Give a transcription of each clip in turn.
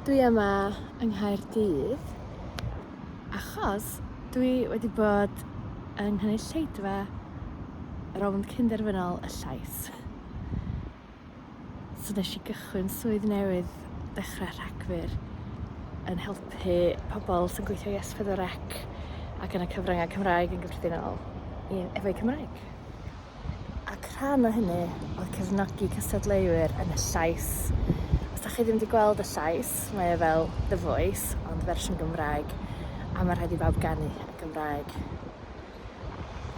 Dwi yma yng Nghaerdydd achos dwi wedi bod yng nghynulleidfa rownd cynderfynol y llais. So nes i gychwyn swydd newydd dechrau Rhagfyr yn helpu pobl sy'n gweithio i S4C ac yn y cyfryngau Cymraeg yn gyffredinol i- efo'u Cymraeg. ac rhan o hynny oedd cefnogi cystadleuwyr yn y llais. Os da chi ddim wedi gweld y llais, mae e fel The Voice, ond fersiwn Gymraeg, a mae rhaid i bawb ganu yn Gymraeg.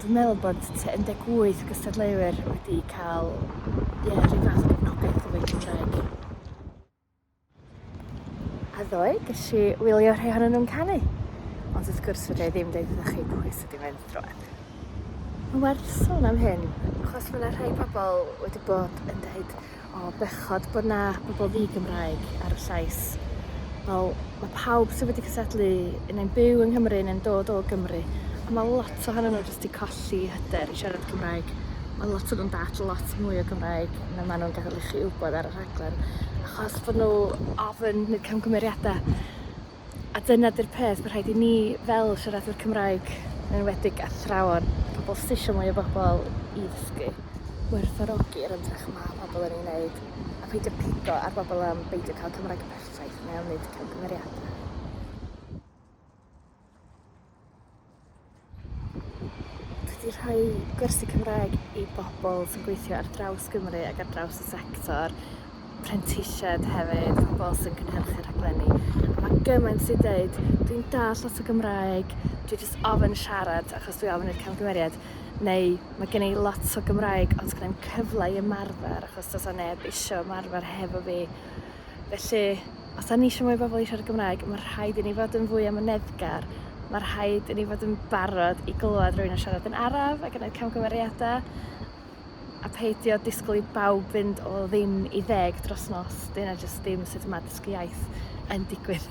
Dwi'n meddwl bod 18 gystadleuwyr wedi cael ie, rhyw fath o gefnogaeth o fwy Cymraeg. A ddoe, ges i wylio rhai ohonyn nhw'n canu. Ond wrth gwrs fydde i ddim deud wrthych chi pwy sydd wedi mynd drwad. Mae'n werth sôn am hyn, achos mae yna rhai pobl wedi bod yn dweud o bechod bod na bobl ddi-Gymraeg ar y llais. Wel, mae pawb sydd wedi cysadlu yn ein byw yng Nghymru neu'n dod o Gymru, a mae lot ohonyn nhw jyst wedi colli hyder i siarad Cymraeg. Mae lot o nhw'n dall lot mwy o Gymraeg na maen nhw'n gael i chi wybod ar y rhaglen. rhaglen achos bod nhw ofyn neud camgymeriadau a dyna 'di'r peth ma' rhaid i ni fel siaradwyr Cymraeg yn enwedig athrawon pobol sy isio mwy o bobol i ddysgu gwerthfawrogi'r ymdrech ma' pobol yn ei wneud a peidio pigo ar bobol am beidio ca'l Cymraeg perffaith neu am neud camgymeriadau. Dwi 'di rhoi gwersi Cymraeg i bobl sy'n gweithio ar draws Gymru ac ar draws y sector, prentisiaid hefyd, pobl sy'n cynhyrchu rhaglenni. A mae gymaint sy'n deud, dwi'n dall lot o Gymraeg, dwi jyst ofyn siarad achos dwi ofyn i'r camgymeriad, neu mae gen i lot o Gymraeg ond sgynna i'm cyfle i ymarfer achos does 'na neb isio ymarfer hefo fi. Felly Os da ni eisiau mwy o bobl i siarad Gymraeg, mae rhaid i ni fod yn fwy amyneddgar. Mae rhaid i ni fod yn barod i glywed rhywun yn siarad yn araf ac yn gwneud camgymeriadau a peidio disgwyl i bawb fynd o ddim i ddeg dros nos. Dyna jyst ddim sut mae dysgu iaith yn digwydd.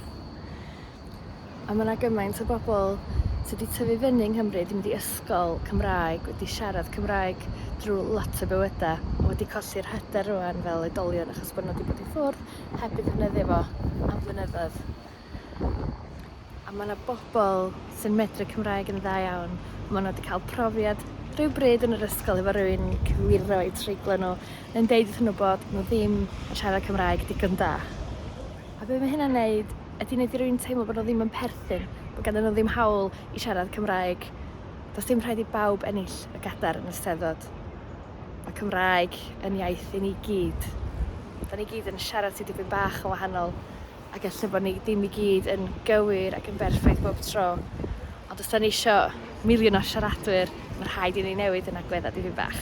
a mae yna gymaint o bobl sydd wedi tyfu fyny yng Nghymru, wedi mynd i ysgol Cymraeg, wedi siarad Cymraeg drwy lot o bywydau, a wedi colli'r hyder rwan fel oedolion achos bod nhw wedi bod i ffwrdd heb ei ddefnyddio fo am flynyddoedd. A mae yna bobl sy'n medru Cymraeg yn dda iawn, mae nhw wedi cael profiad rhyw bryd yn yr ysgol efo rhywun cywiro eu treiglo nhw, neu'n deud wrthyn nhw bod nhw ddim yn siarad Cymraeg digon da. A be mae hynna'n neud? Ydy neud i rywun teimlo bod nhw ddim yn perthyn, bod ganddyn nhw ddim hawl i siarad Cymraeg? Does dim rhaid i bawb ennill y gadar yn y Steddfod. Mae Cymraeg yn iaith i ni gyd. Da ni gyd yn siarad ti dipyn bach yn wahanol, ac ella bod ni ddim i gyd yn gywir ac yn berffaith bob tro. Ond os da ni isio miliwn o siaradwyr, mae rhaid i ni newid yn agweddau dipyn bach.